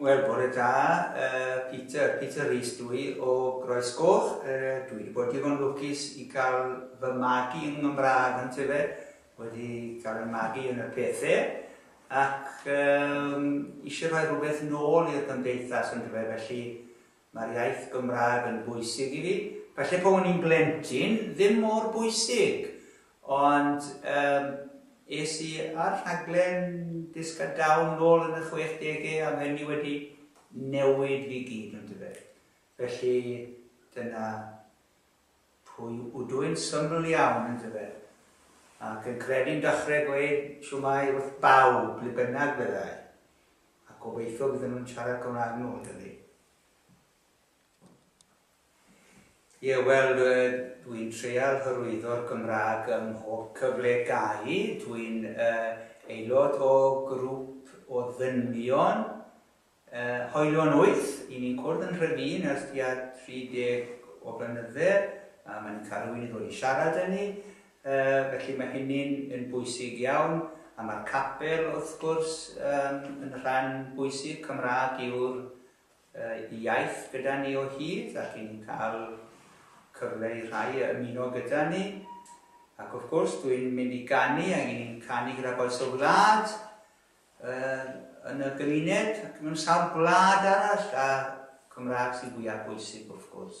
Wel, bore da, Peter. Peter Rees dw i, o Groesgoch. Dwi wedi bod digon lwcus i gael fy magu yn Nghymraeg, yn tyfe, wedi cael fy magu yn y pethe, ac eisiau rhoi rhywbeth nôl i'r gymdeithas, yn tyfe, felly Mae'r iaith Gymraeg yn bwysig i fi. Falle pan o'n i'n blentyn, ddim mor bwysig. Ond yym es i ar rhaglen Dysg a Dawn nôl yn y chwechdegau a mae hynny wedi newid fi gyd, yn dyfe. Felly dyna pwy ydw i'n syml iawn, yn dyfe. Ac yn credu'n dechrau gweud siwmai wrth bawb, ble bynnag byddai. A gobeithio fydden nhw'n siarad Cymraeg yn ôl 'da fi. Ie, wel, dwi'n treial hyrwyddo'r Gymraeg ym mhob cyfle gai. Dwi'n uh, aelod o grŵp o ddynion uh, hoelion wyth. I ni'n cwrdd yn rhyfun ers tua 30 o flynydde. A mae'n cael rhywun i ddod i siarad â ni. Felly mae hynny'n yn bwysig iawn, a mae'r capel wrth gwrs yn rhan bwysig, Cymraeg yw'r iaith gyda ni o hyd ac yn cael cyfle i rhai ymuno gyda ni. Ac wrth gwrs dwi'n mynd i ganu ac yn canu gyda bois o wlad yn y gymuned ac mewn sawl gwlad arall a Cymraeg sy'n fwyaf bwysig wrth gwrs.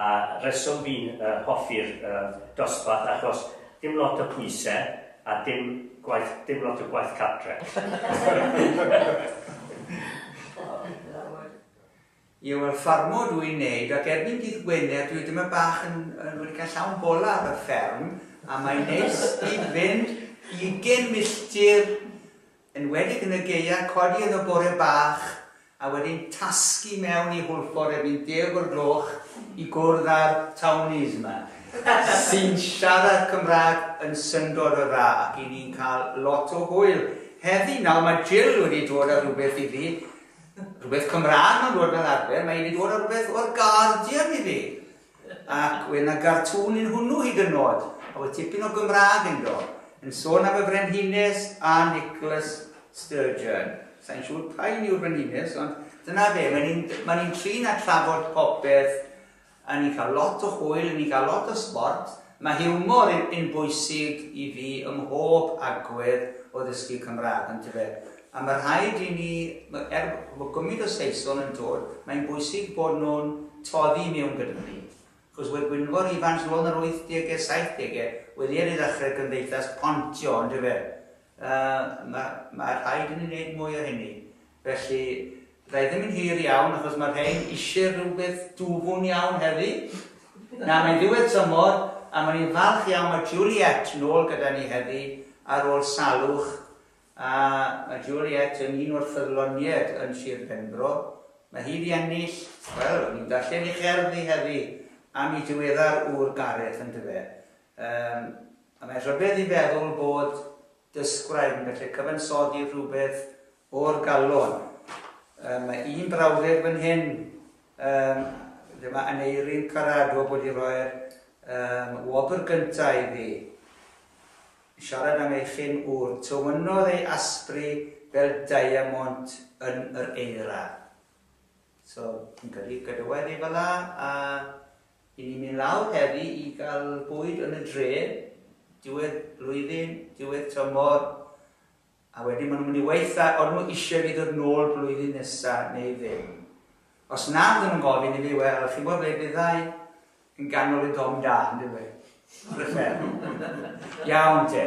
A reswm fi'n hoffi'r dosbarth achos dim lot o pwyse a dim gwaith dim lot o gwaith cartre. Yw yr ffarmwr dw i'n neud ac erbyn dydd Gwener dwi dyma bach yn yn wedi cael llawn bola ar y fferm a mae'n neis i fynd ugen milltir Enwedig yn y gaeaf, codi iddo bore bach a wedyn tasgu mewn i Hwlffordd erbyn deg o'r gloch i gwrdd â'r townies yma, sy'n siarad Cymraeg yn syndod o dda ac i ni'n cael lot o hwyl heddi. Nawr mae Jill wedi dod â rhywbeth i fi, rhywbeth Cymraeg mae'n dod fel arfer, mae hi wedi dod â rhywbeth o'r Guardian i fi. Ac we' 'na gartŵn yn hwnnw hyd yn nôd, a we' tipyn o Gymraeg ynddo, yn sôn am y Frenhines a Nicholas Sturgeon. Sai'n siŵr pa un yw'r Frenhines, ond dyna fe, mae ni'n ma ni trin a trafod popeth, a ni'n cael lot o hwyl, a ni'n cael lot o sbort, Mae hiwmor yn bwysig i fi ym mhob agwedd o ddysgu Cymraeg, yndyfe? A mae rhaid i ni, er bod gymaint o Saeson yn dod, mae'n bwysig bod nhw'n toddi mewn gyda ni. Wrth gwrs, Wed Gwynfor Ifans nôl yn yr wythdegau, saithdegau, wedi ar ei ddechrau Cymdeithas Pontio, yndyfe? Yy, mae rhaid i ni wneud mwy o hynny. Felly, fydda i ddim yn hir iawn achos mae'r rhain eisiau rhywbeth dwfwn iawn heddi. Na, mae'n ddiwedd tymor a mae'n i'n falch iawn mae Juliette nôl gyda ni heddi ar ôl salwch a mae Juliette yn un o'r ffyddloniaid yn Sir Benfro. Mae hi wedi ennill, wel, o'n i'n darllen ei cherdd hi heddi am ei diweddar ŵr Gareth yndyfe. Yym, a mae'n rhyfedd i feddwl bod Dysgwraig yn gallu cyfansoddi rhywbeth o'r galon. Yy, mae un brawddeg fan hyn, um, dyma Aneirin Caradwg wedi rhoi'r um, wobr gyntaf i fi. Siarad am ei chyn ŵr, tywynnodd ei asbri fel diamond yn yr eira. So, yn gyrru gadewaidd i fela a i ni'n mynd lawr heddi i gael bwyd yn y dre, diwedd blwyddyn, diwedd tymor, a wedyn maen nhw'n mynd i weitha ond nhw eisiau fi ddod nôl blwyddyn nesaf neu ddim. Os na, ddim yn gofyn i fi, wel, chi'n gwybod ble byddai yn ganol y dom da, yn dweud. Rhyfedd. Iawn te.